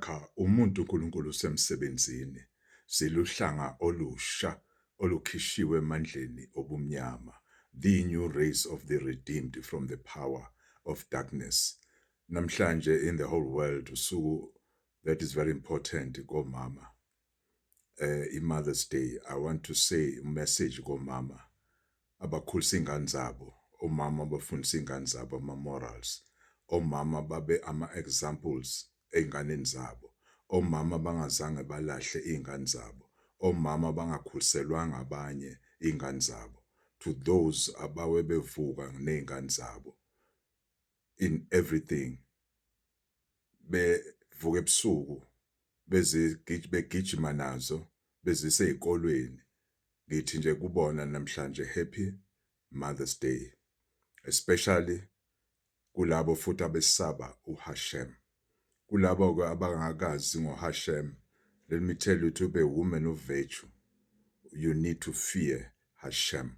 Cha umuntu uNkulunkulu usemsebenzini, siluhlanga olusha olukhishiwe emandleni obumnyama, the new race of the redeemed from the power of darkness. Namhlanje in the whole world usuku that is very important komama. eh iMother's Day I want to say message komama abakhulisa ingane zabo omama abafundisa ingane zabo ama morals omama babe ama examples einganeni zabo omama bangazange balahle izingane zabo omama bangakhuliselwanga abanye izingane zabo to those abawe bevuka nezingane zabo in everything bevuka ebusuku bezigijima begijima nazo bezise ezikolweni ngithi nje kubona namhlanje happy mother's day especially kulabo futhi abesaba uHashem kulabo ke abangakazi ngoHashem let me tell you to be a woman of virtue you need to fear Hashem